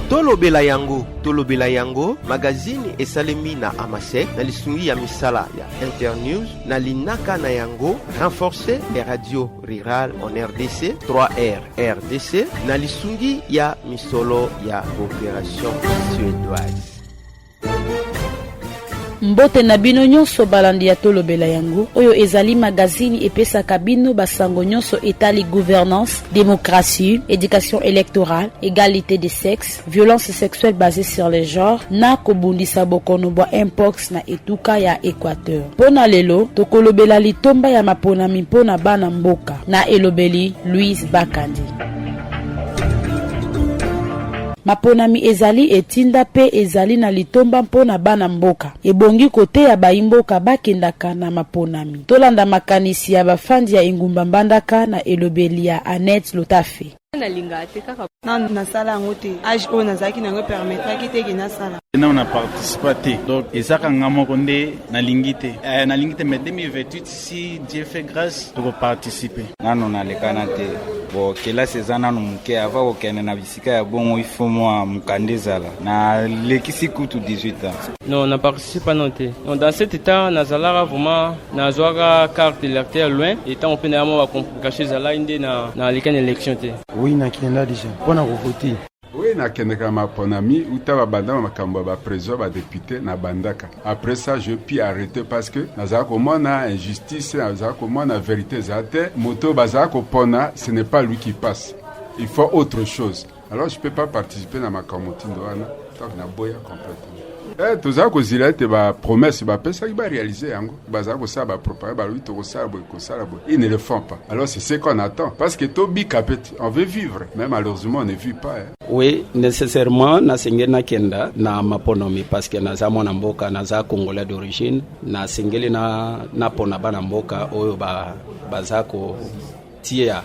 tolobela yango tolobela yango magazini esalemi na amasek na lisungi ya misala ya internews na linaka na yango renforcer les radios rurales en rdc 3r rdc na lisungi ya misolo ya cooperation suédoise Mbote na bino nyonso balandi ya Tolobela yango, oyo ezali magazini epesaka bino basango nyonso etali gouvernance, demokrasi, education electorale, egalite de sexe, violence sexuelle basée sur le genre na kobundisa bokono bwa mpox na etuka ya Equateur. Mpo na lelo, tokolobela litomba ya maponami mpo na bana mboka na elobeli Louise Bakandi. Maponami ezali etinda mpe ezali na litomba mpo na bana mboka. Ebongi koteya bayi mboka bakendaka na maponami. Tolanda makanisi ya bafandi ya engumba Mbandaka na elobeli ya Annette Lotafe. nalingaka te kaka nanu nasala yango te age oyo nazalaki na yango epermetraki te ke nasala nanu na participa te donc ezaka nga moko nde nalingi te eh, nalingi te mai 2028 Si Dieu fait grâce, toko participer. Nano nalekana te. Bo kelasi eza nano moke ava kokende na bisika ya bongo ifo mwa mokanda ezala nalekisi kutu 18 ans non na participe nano te non dans cet état nazalaka vraiment nazwaka carte d'électeur loin etango mpe naya mwa bacomplication ezalaki nde nalekani élection te oui nakenda déjà mpo na kovote Oui, nakendeka maponami uta babanda makambo ya bapresident badepute nabandaka après ça je puis arrete parce que nazala komona injustice nazala komona verité eza te moto oyo bazala kopona ce n'est pas lui qui passe il faut autre chose alors je peux pas participer na makambo motindo wana ntango naboya complètement Eh, tozala kozila ete bapromesse bapesaki barealize yango bazala kosala bapropagande balobi tokosala boye kosala boye ils ne le font pas alors c'est ce qu'on attend parce que tobika mpe te On veut vivre, mais malheureusement on ne vit pas. Hein. Oui, nécessairement na sengeli na kenda na maponomi parce que naza mwana mboka naza congolais d'origine na sengeli na na pona bana mboka oyo ba baza ko tia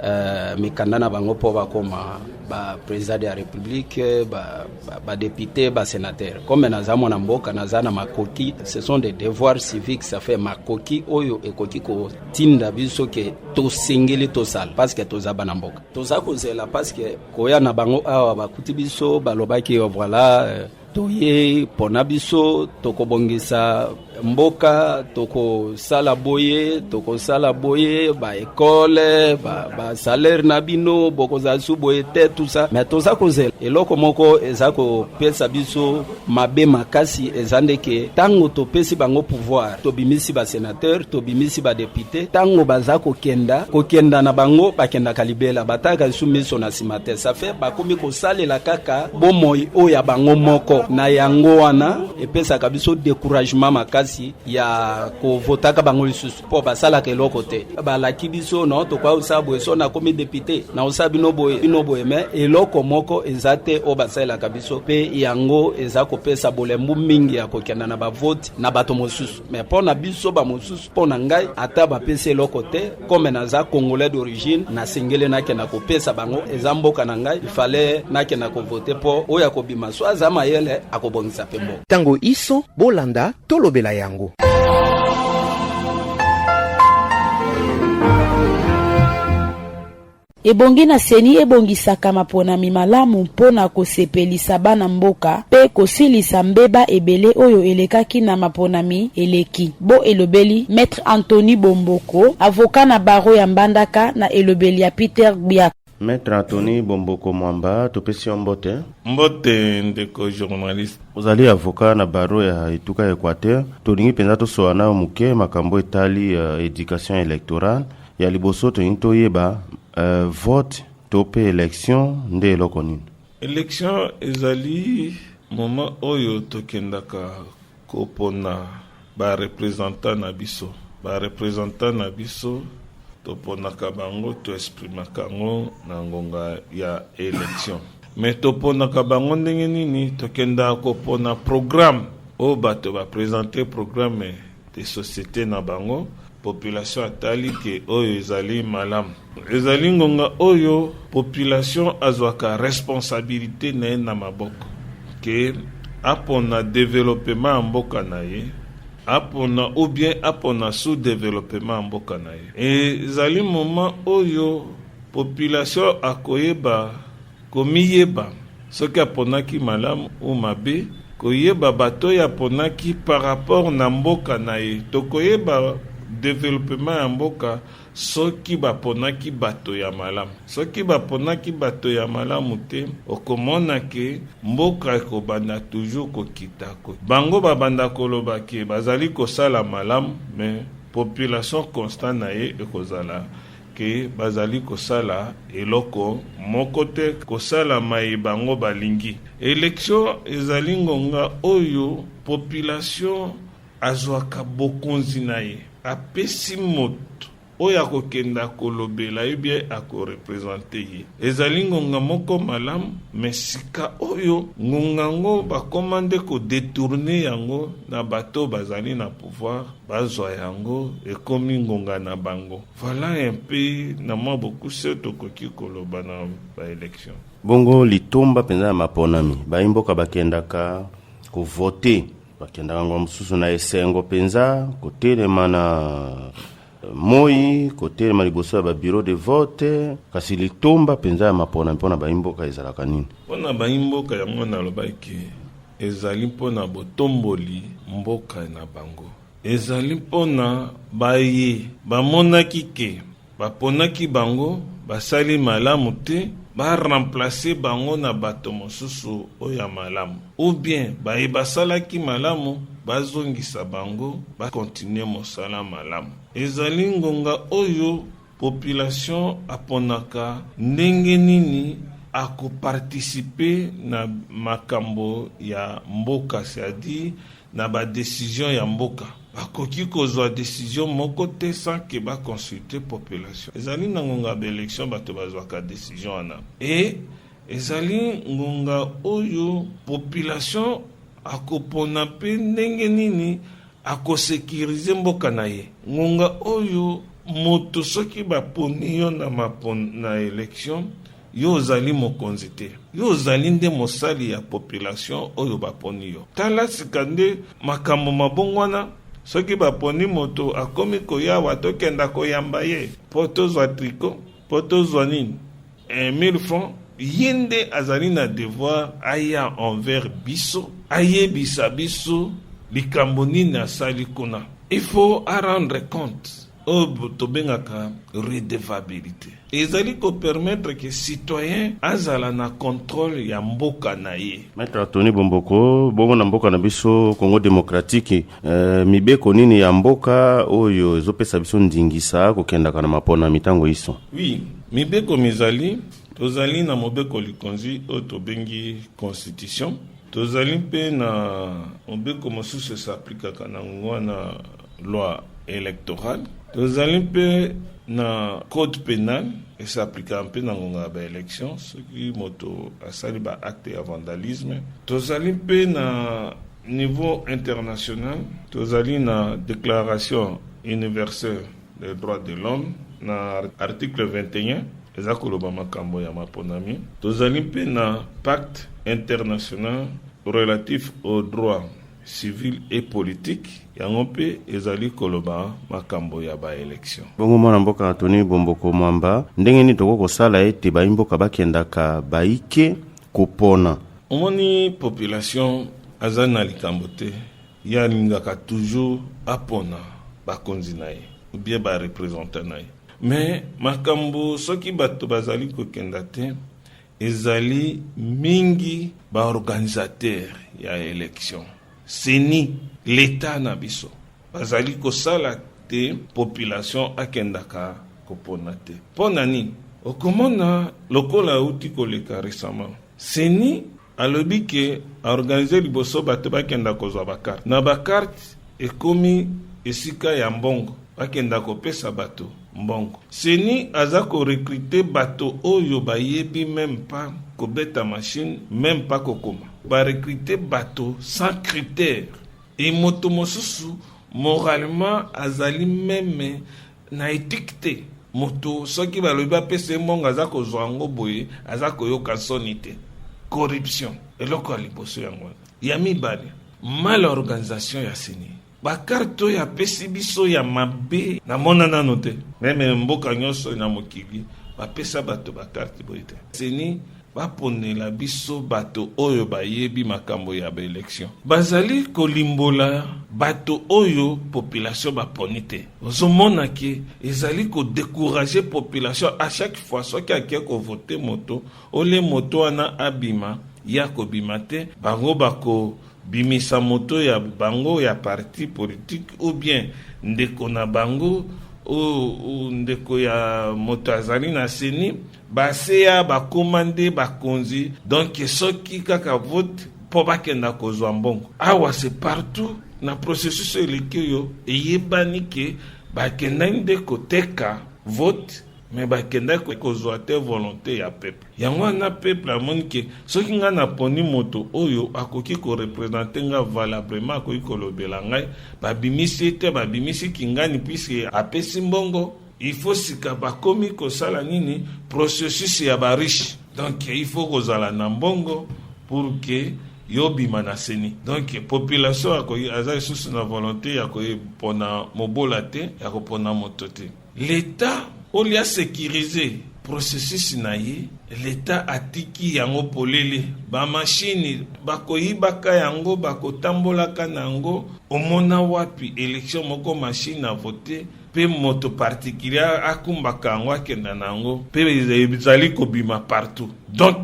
euh, mikanda na bango mpo bakoma ba président de la république ba, ba, ba député ba sénateur comme naza mwana mboka naza na makoki ce sont des devoirs civiques ça fait makoki oyo ekoki ko tinda biso ke tosengeli tosala paske toza bana mboka toza kozela paske koya na bango awa bakuti biso balobaki yo voila euh, toye pona biso tokobongisa mboka tokosala boye tokosala boye baekole basalaire ba na bino bokozala su boye te tusa me toza kozela eloko moko eza kopesa biso mabe makasi eza nde ke ntango topesi bango pouvoir tobimisi basenateur tobimisi badepute ntango baza kokenda kokenda na bango bakendaka libela bataka lisu miso na nsima te safe bakomi kosalela kaka bomoi oyo ya bango moko na yango wana epesaka biso decouragement makasi ya kovotaka bango lisusu mpo basalaka eloko te balaki biso no tokoya kosala boye so nakomi depute nakosala bino boye bino boye me eloko moko eza te oyo basalelaka biso mpe yango eza kopesa bolembu mingi ya kokenda na bavoti na bato mosusu me mpo na biso bamosusu mpo na ngai ata bapesi eloko te kome naza congolais d'origine nasengeli nakenda kopesa bango eza mboka na ngai ifale nakenda kovote mpo oyo akobima so aza mayele akobongisa mpe mboka Tango iso bolanda tolobela yango. ebongi na seni ebongisaka maponami malamu mpo na kosepelisa bana mboka mpe kosilisa mbeba ebele oyo elekaki na maponami eleki bo elobeli maitre antony bomboko avoka na baro ya mbandaka na elobeli ya peter gbiaka Maître Anthony Bomboko Mwamba, topesi yo mbote. Mbote ndeko journaliste. Ozali avocat na baro ya etuka ya Equateur. Tolingi mpenza tosola nayo moke makambo etali uh, education electorale. Ya liboso tolingi toyeba uh, vote to mpe election nde eloko nini? Election ezali moment oyo tokendaka Kopona ba representants na biso. Ba representants na biso toponaka bango to exprimaka yango na ngonga ya election me toponaka bango ndenge nini tokendaka kopona programme oyo bato bapresente programme de société na bango Population atali ke oyo ezali malamu. Ezali ngonga oyo population azwaka responsabilite na ye na maboko ke apona developema ya mboka na ye apona ou bien apona sous developema ya mboka na ye. Ezali moment oyo population akoyeba Komiyeba soki aponaki malamu ou mabe, koyeba bato oyo aponaki par rapport na mboka na ye. Tokoyeba developpement ya mboka soki baponaki bato ya malamu. Soki baponaki bato ya malamu te, okomona ke mboka ekobanda toujours kokita. Bango babanda koloba ke bazali kosala malamu mais population constat na ye ekozala ke bazali kosala eloko moko te, kosala maye bango balingi. Election ezali ngonga oyo population azwaka bokonzi na ye, apesi moto oyo akokende akolobela ye bie akorepresente ye. Ezali ngonga moko malamu, me sika oyo ngonga yango bakoma nde kodetourne yango na bato bazali na pouvoir, bazwa yango ekomi ngonga na bango. Voilà un peu na mwa bokuse tokoki koloba na baelection. Bongo litomba mpenza ya maponami, bayi mboka bakendaka kovote, bakendaka ngonga mosusu na esengo mpenza, kotelema na moi kotelema liboso ya babiro de vote. Kasi litomba mpenza ya maponami mpo na bayi mboka ezalaka nini? Mpo na bayi mboka yango nalobaki ezali mpo na botomboli mboka na bango. Ezali mpo na baye bamonaki ke baponaki bango basali malamu te ba remplacer bango na bato mosusu oyo ya malamu ou bien baye basalaki malamu bazongisa bango ba continuer mosala malamu. Ezali ngonga oyo population aponaka ndenge nini ako participer na makambo ya mboka c'est-à-dire na ba decision ya mboka bakoki kozwa decision moko te sans que ba consulter population ezali na ngonga ba election bato bazwaka decision wana e ezali ngonga oyo population akopona mpe ndenge nini akosekirize mboka na ye ngonga oyo moto soki baponi yo na mapon na election Yo ozali mokonzi te. Yo ozali nde mosali ya population oyo baponi yo. Tala sika nde makambo mabongwana soki baponi moto akomi koyawa tokenda koyamba ye mpo tozwa triko mpo tozwa nini 1000 francs ye nde azali na devoir aya envers biso ayebisa biso likambo nini asali kuna il faut arendre compte oyo tobengaka redevabilite ezali kopermettre ke citoyen azala na controle ya mboka na ye. Maitre Tony Bomboko, bongo na mboka na biso Congo demokratiki, eh, mibeko nini ya mboka oyo ezopesa biso ndingisa kokendaka na mapona mitango iso? Oui, mibeko mizali, tozali na mobeko likonzi oyo tobengi constitution, tozali mpe na mobeko mosusu esaplikaka na ngwana loi electorale, tozali mpe na code penal esaplika mpe na ngonga ya baelection soki moto asali baacte ya vandalisme. Tozali mpe na niveau international, tozali na déclaration universelle des droits de l'homme na article 21 eza koloba makambo ya maponami. Tozali mpe na pacte international relatif aux droits civile et politique yango mpe ezali koloba makambo ya baelektio bongo mwana mboka antoni bomboko mwamba ndenge nini tokoki kosala ete bayi mboka bakendaka baike kopona omoni population aza na likambo te ye alingaka toujours apona bakonzi na ye obie barepresentant na ye me makambo soki bato bazali kokenda te Ezali mingi ba organisateur ya election seni leta na biso bazali kosala te population akendaka kopona te mpo na nini okomona lokola euti koleka récemment seni alobi ke aorganize liboso bato bakenda kozwa bakarte na bakarte ekomi esika ya mbongo bakenda kopesa bato mbongo. Ceni aza ko recruter bato oyo bayebi meme pas kobeta machine, meme pas kokoma. Ba recruter bato sans critère. Et moto mosusu moralement azali meme na ethique te. Moto soki balobi bapesa ye mbongo aza kozwa yango boye, aza koyoka soni te. Corruption eloko ya liboso yango wana. Ya mibale, mal organisation ya ceni. bakarte oyo apesi biso ya mabe namona nano te meme mboka nyonso na mokili bapesa bato bakarte boye te seni baponela biso bato oyo bayebi makambo ya baelektio bazali kolimbola bato oyo population baponi te ozomona ke ezali kodekourage population a chaque fois soki ake kovote moto ole moto wana abima ye akobima te bango bako Bimisa moto ya bango ya parti politique ou bien ndeko na bango ou ndeko ya moto azali na seni baseya bakoma nde bakonzi donc soki kaka vote mpo bakenda kozwa mbongo awa se partout na processus eleki oyo eyebani ke bakendaki nde koteka vote me bakendaki kozwa te volonté ya peuple yango wana peuple amoni ke soki ngai naponi moto oyo akoki korepresente ngai valablement akoki kolobela ngai babimisi ye te babimisi kingani puiske apesi mbongo il faut sika bakomi kosala nini processus ya bariche donc il faut kozala na mbongo pour ke yobima na seni donc population aza lisusu na volonté ya kopona mobola te ya kopona moto te L'Etat au lieu asecurise processus na ye, l'Etat atiki yango polele. Bamashini bakoyibaka yango, bakotambolaka na yango. Omona wapi election moko mashini avote mpe moto particulier akumbaka yango akenda na yango mpe ezali kobima partout donc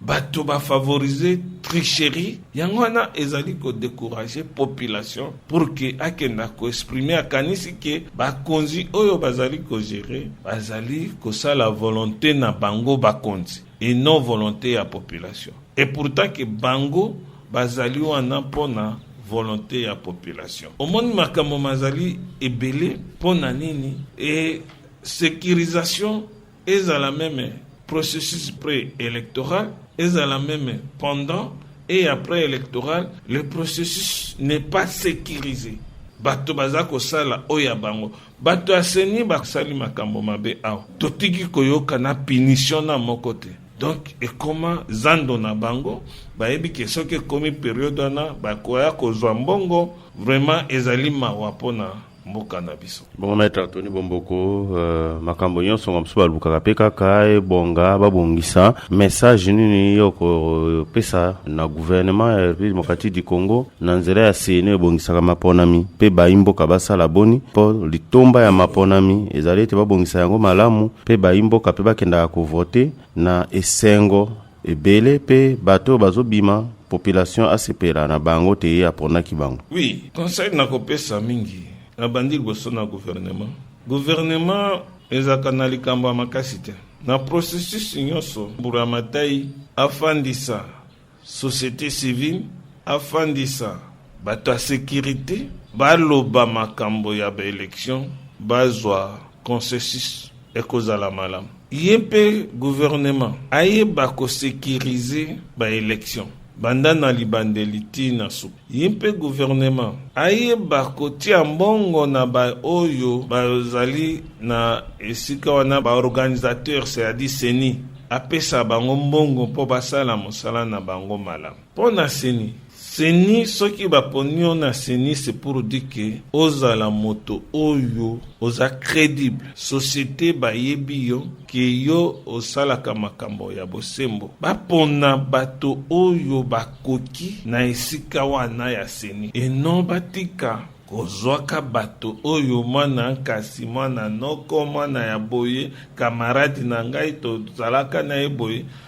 bato ba favoriser tricherie yango wana ezali ko décourager population pour que akenda ko exprimer akanisi ke bakonzi oyo bazali ko gérer bazali kosala volonté na bango bakonzi et non volonté ya population et pourtant ke bango bazali wana mpo na volonté ya population omoni makambo mazali ebele mpo na nini e sécurisation ezala meme processus pré-électoral, ezala meme pendant et après électoral, le processus n'est pas sécurisé. bato baza kosala oyo ya bango bato ya seni basali makambo mabe awa totiki koyoka na punition na moko te donc ekoma zando na bango bayebi ke soki ekomi periode wana bakoya kozwa mbongo vraiment ezali mawa mpo na mboka na biso bongo maître antony bomboko uh, makambo nyonso nga mosusu balukaka mpe kaka ebonga babongisa message nini yo kopesa na gouvernement ya république démocratique du congo na nzela ya seni ebongisaka maponami mpe bayi mboka basala boni mpo litomba ya maponami ezali ete babongisa yango malamu mpe bayi mboka mpe bakendaka kovote na esengo ebele pe bato oyo bazobima population asepela na bango te ye aponaki bango oui conseil nakopesa mingi nabandi liboso na gouvernement gouvernement ezalaka na likambo ya makasi te na processus nyonso mburu ya matai afandisa société civile afandisa bato ya sécurité baloba makambo ya baélection bazwa consensus ekozala malamu ye mpe guvernema ayeba kosekirize baelektio banda na libandeli ti na suka ye mpe guvernema ayeba kotia mbongo na baoyo bazali na esika wana baorganisateur c'est-à-dire seni apesa bango mbongo mpo basala mosala na bango malamu Mpo na seni seni soki baponi yo na seni se pour dire ke ozala moto oyo oza credible societe bayebi yo ke yo osalaka makambo ya bosembo bapona bato oyo bakoki na esika wana ya seni eno batika kozwaka bato oyo mwana nkasi mwana noko mwana ya boye kamaradi na ngai tozalaka na ye boye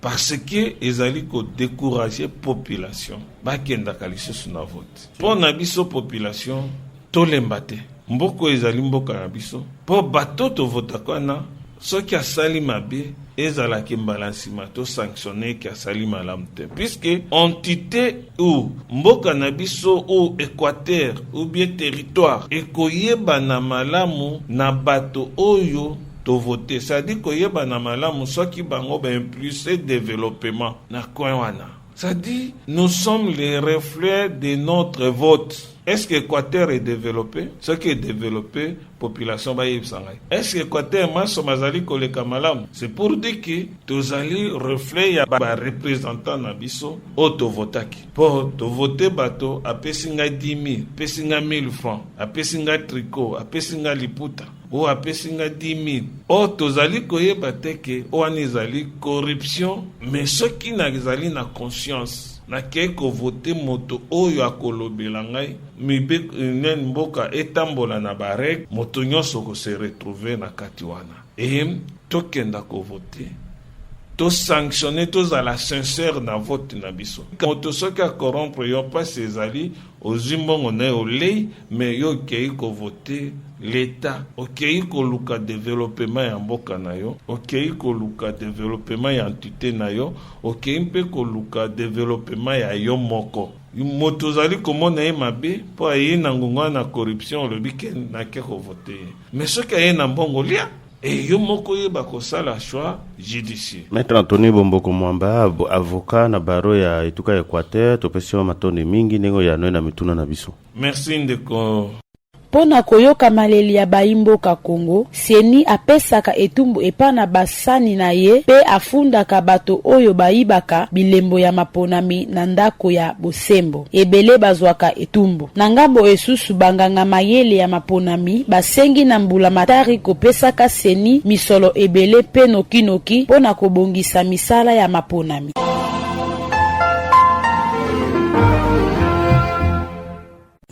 parce que ezali ko décourager population bakendaka lisusu na vote. Mpo na biso population tolemba te, mboko ezali mboka na biso, mpo bato tovotaka wana soki asali mabe ezalaki mbala nsima to sanctionne ke asali malamu te puiske entité ou mboka na biso ou équateur ou bien territoire ekoyebana malamu na bato oyo to vote sadi koyebana malamu soki bango ba impulse developement na coin wana sadi nous sommes les reflets de notre vote est-ce que équateur est développé soki est développé population bayebisa ngai est-ce que équateur manso mazali koleka malamu c'est pour dire que tozali reflet ya barepresentant na biso oyo tovotaki mpo tovote bato apesi ngai 10 000 apesi ngai 1000 francs apesi ngai tricot apesi ngai liputa oyo apesi nga 10000 o tozali koyeba te ke oyo wana ezali corruption me soki nazali na conscience nakei kovote moto oyo akolobela ngai mibe nani mboka etambola na bareg moto nyonso kose retrouve na kati wana e tokenda kovote tosanctionne tozala sincere na vote na biso moto soki akorompre yo mpasi ezali ozwi mbongo na ye olei me yo okei kovote leta okei koluka developema ya mboka na yo okei koluka developema ya entite na yo okei mpe koluka developema ya yo moko moto ozali komona ye mabe mpo ayei na ngongo wana na corruption olobi ke nake kovote ye me soki ayei na mbongo lia Et yo moko yeba kosala choix judicieux. Maître Anthony Bomboko Mwamba, avocat na baro ya etuka ya Equateur, topesi yo matondi mingi ndenge oyanoi na mituna na biso. Merci ndeko. Mpo na koyoka maleli ya bayi mboka Congo, CENI apesaka etumbu epa na ba sani na ye mpe afundaka bato oyo bayibaka bilembo ya maponami na ndako ya bosembo. Ebele bazwaka etumbu. Na ngambo esusu, banganga mayele ya maponami basengi na mbulamatari kopesaka ceni misolo ebele mpe noki noki mpo na kobongisa misala ya maponami.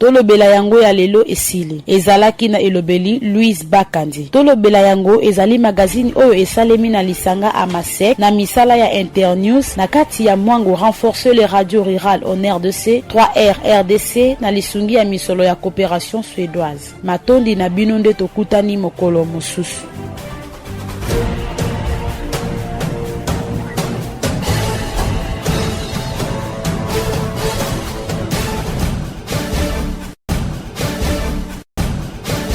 Tolobela yango ya lelo esili. Ezalaki na elobeli Louise Bakandi. Tolobela yango ezali magazini oyo esalemi na lisanga AMASEC na misala ya Internews na kati ya mwango Renforcer les radios rurales en RDC, 3R rdc, na lisungi ya misolo ya cooperation suedoise. Matondi na bino nde tokutani mokolo mosusu.